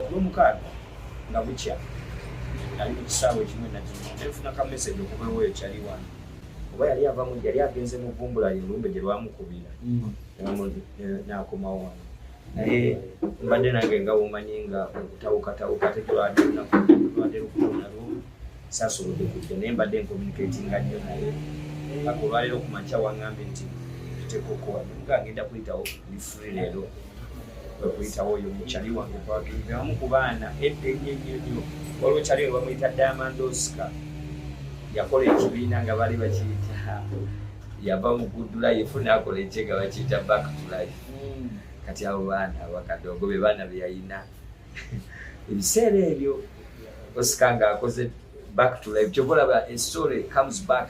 olwomukaaga nga bukya nali ku kisaawe ekimu enakimu nenfuna ka message okuva ewoyo kyali wano oba yali avamu yali agenze mu vumbula ye olumbe gye lwamukubira mm. nakomawo wano naye mbadde nange nga womanyi nga okutawukatawuka tekulwadde lunaku lwadde lukutonalwo Saasobodde kujja naye mbadde ncommunicatinga nnyo naye paka olwaleero ku makya wangambye nti tutekokoa nga agenda kuyitawo ndi free leero kwekuyitawo oyo mukyali wange kwagenda omu ku baana edda ennyo nnyo nnyo waliwo kyali oyo bamuyita diamond oscar yakola ekibiina nga bali bakiyita yava mu good life naakola ekyega bakiyita back to life hmm. kati abo baana abakadongo be baana beyalina ebiseera ebyo osika nga akoze back to life kyova olaba estory comes back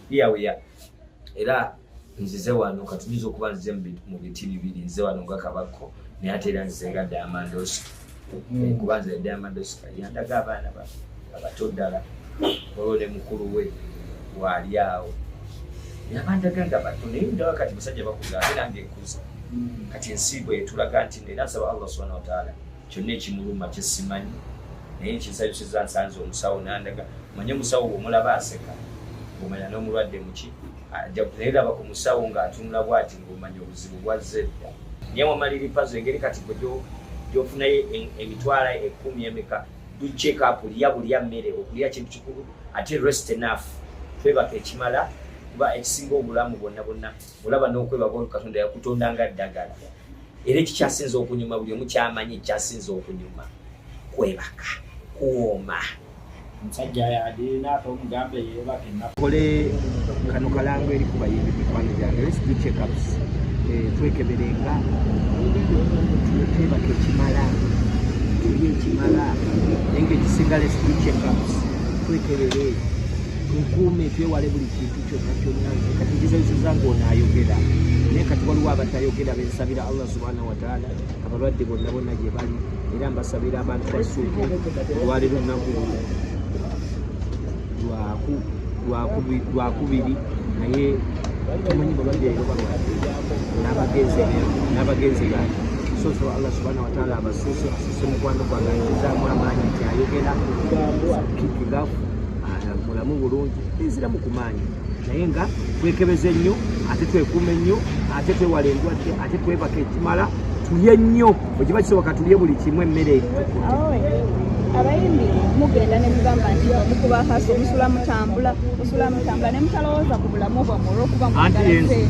here we are era nzize wano katuyinza okuba nzize mu biti bibiri nzize wano nga kabakko naye ate era nzize nga diamandosi hmm. eh, kuba nze diamandosi yandaga abaana abato ddala olwo ne mukulu we waali awo nabandaga nga bato naye ndawa kati musajja bakuza ate nange nkuza hmm. kati ensi bwetulaga nti era nsaba allah subhana wataala kyonna ekimuluma kyesimanyi naye nkinsayusiza nsanze omusawo nandaga manye omusawo omulaba aseka omanya n'omulwadde muki naye laba ku musawo ng'atunula bwati ngaomanya obuzibu bwazze dda naye wamaliri pazo engeri kati gwe gyofunayo emitwala ekumi emeka ducekapu lya bulya mmere okulya kintu kikulu ate rest enough twebaka ekimala kuba ekisinga obulamu bwonna bwonna olaba n'okwebaka olwo katonda yakutonda nga ddagala era ekikyasinza okunyuma buli omu kyamanyi ekikyasinza okunyuma kwebaka kuwooma omusajja yadina ate omugambe yebake nakole kano kalango eri ku bayimbi mikwano gyange lets do checkups eh, twekeberenga twebaka ekimala tulye ekimala naye nga ekisinga lets do checkups twekebere tukuume twewale buli kintu kyonna kyonna nze kati ngizenyisiza ng'ono ayogera naye kati waliwo abatayogera bensabira allah subhanahu wataala abalwadde bonna bonna gye bali era mbasabira abantu basuuke olwaliro nnaku lwaku lwakubiri naye tumanyi balwadde ero balwadde n'abagenzi n'abagenzi bange soso allah subhana wataala abasuuse asuse mukwano gwange ayinzaamu amaanyi nti ayogera kikigaffu mulamu bulungi enzira mu kumaanyi naye nga twekebeze nnyo ate twekuume nnyo ate twewala endwadde ate twebaka ekimala tulye nnyo bwekiba kisoboka tulye buli kimu emmere abayimbi mugenda nemugamba nti mukuba kaso musula mutambula musula mutambula nemutalowooza ku bulamu bwamwe olwokuba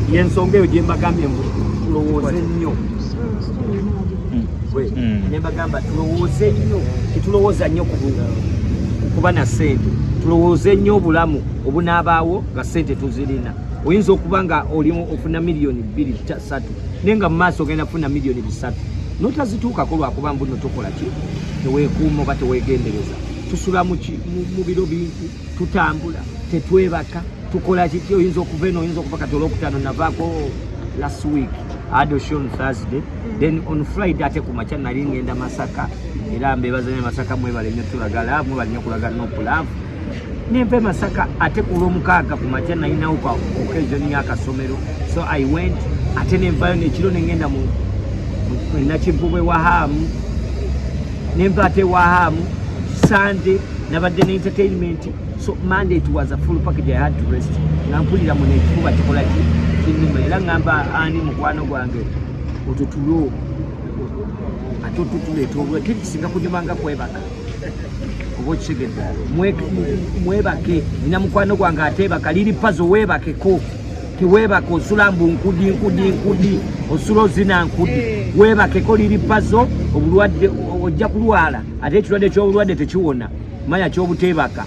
muyensonga eyo gyembagambye mbu tulowooze nnyo mm. gwe mm. ne mbagamba tulowooze nnyo tetulowooza nnyo kuba na ssente tulowooze nnyo obulamu obunaabaawo nga ssente tuzirina oyinza okuba nga olimu ofuna miliyoni bbiri satu naye nga mu maaso ogenda kufuna miliyoni bisatu notazituukako lwakuba mbuno tokola ki teweekuuma oba teweegendereza tusula mu biro bintu tutambula tetwebaka tukola kiki oyinza okuva eno oyinza okuva kati olwokutaano navaako last week adoshe on thursday then on friday ate ku makya nali ngenda masaka era mbebazanye masaka mwebale nyo tulagala mwebale nyo kulaga nopulavu nempe masaka ate ku lwomukaaga ku makya nalinawo kwa occasion yakasomero so i went ate nenvayo nekiro nengenda mu nakivubwe wahamu nempa ate wahamu sunday nabadde ne entertainment so monday it was a full package i had to rest nga mpulira mu nekifuba kikola ki kinuma era ngamba ani mukwano gwange otutulo ate otutuleeta olwe kiri kisinga kunyuma nga kwebaka oba okitegedde mwebake nina mukwano gwange ateebaka liri pazo weebakeko tiwebake osula mbu nkudi nkudi nkudi osula ozina nkudi eh. webakeko liri pazo obulwadde ojja kulwala ate ekirwadde kyobulwadde tekiwona manya kyobutebaka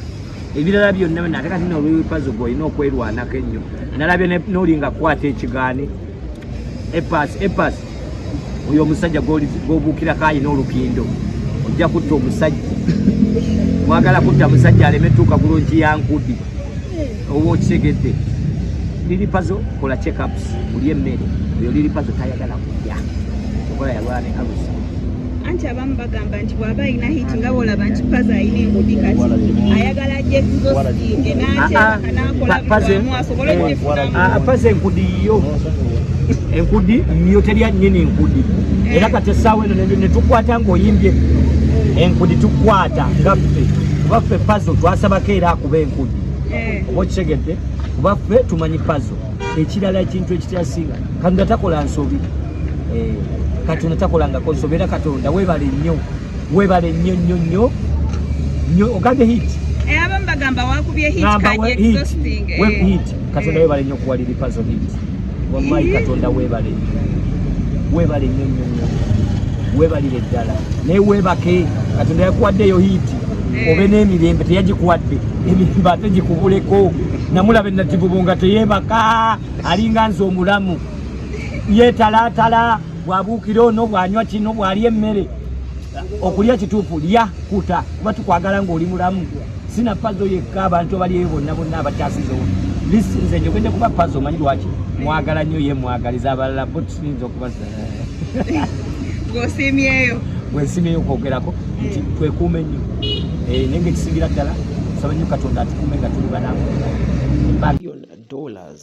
ebirala byonna byona ate kati nolwepazo gweolina okwerwanako ennyo nalabye nolinga kukwata ekigaani epas epas oyo omusajja gwobuukira kaayi n'olukindo ojja kutta omusajja mwagala kutta musajja aleme tuuka bulungi yankudi oba okitegedde lilipazo kola checkups ulye mmere oyo lilipazo tayagala kulya okola yalwala ne alusa anti abamu bagamba nti bwaba alina hit nga bwolaba nti paza alina engudi kati ayagala ajekuzosinge nateakanaakolamu asobole okugifunamupaza enkudi yo enkudi yo terya nyini enkudi eh. era kati essaawa eno netukwata ngaoyimbye enkudi tukwata ngaffe kuba ffe pazo twasabako era akuba enkudi eh. oba okitegedde kuba ffe tumanyi pazo ekirala ekintu ekityasinga kanga takola nsobi eh, katonda takolangako nsobera katonda webale nnyo webale nnyo nnyo nnyo nnyo ogambye hit eh, abamu bagamba wakubye hit katonda webale nnyo kuwaliripazo hit wamayi katonda webale nnyo webale nnyo nnyo nnyo webalire ddala naye webake katonda yakuwaddeyo hiiti eh. obe n'emirembe teyagikuwadde emirembe ate gikubuleko namulaba enativubu nga teyebaka alinga nze omulamu yetalaatala bwabuukira ono bwanywa kino bwalya emmere okulya kituufu lya kuta kuba tukwagala ng'oli mulamu sina pazo yekka abantu abalyeyo bonna bonna abakyasizewo lisi nze njogedde kuba pazo omanyi lwaki mwagala nnyo ye mwagaliza abalala bo tusinza okuba gosiimyeyo gwensiimyeyo okwogerako nti twekuume nnyo eh, naye ngaekisingira ddala saba nnyo katonda atukuume nga tuli banamu dollars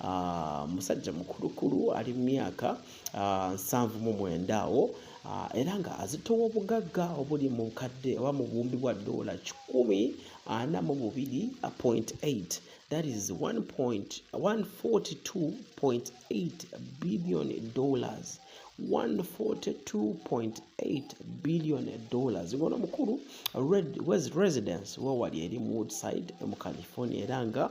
ah, musajja mukulukulu ali mu myaka ah, nsanvu mu mwenda awo ah, era nga azitowa obugagga obuli mu kadde oba mu buwumbi bwa doola kikumi ana mu bubiri point eight that is 1.142.8 billion dollars 142.8 billion dollars ngono mukulu red was residence wawali eri mu woodside mu california era nga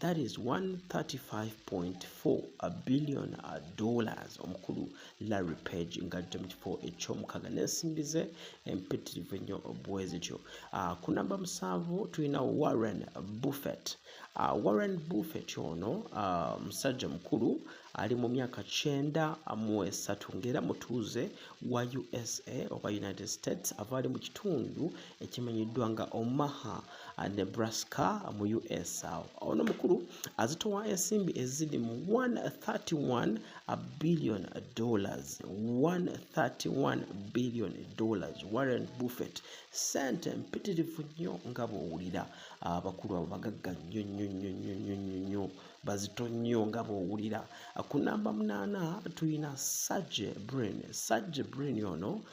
that is 135.4 a billion dollars omukulu larry page nga ajja mu kifo ekyomukaga n'ensimbi ze empitirivu ennyo bwe zityo ah, ku namba musanvu tulina warren buffett ah, warren buffett ono ah, musajja mukulu ali mu myaka kyenda mu esatu ng'era mutuuze wa usa oba united states ava ali mu kitundu ekimanyiddwa nga omaha nebraska mu us awo ono mukulu azitowa ensimbi eziri mu 131 billion dollars 131 billion dollars warren buffet sente mpitirivu nnyo nga bwowulira abakulu abo bagagga nnyo nnyo nnyo nnyo nnyo nnyo nnyo bazito nnyo nga bwowulira ku namba munaana tulina sage brin sage brin ono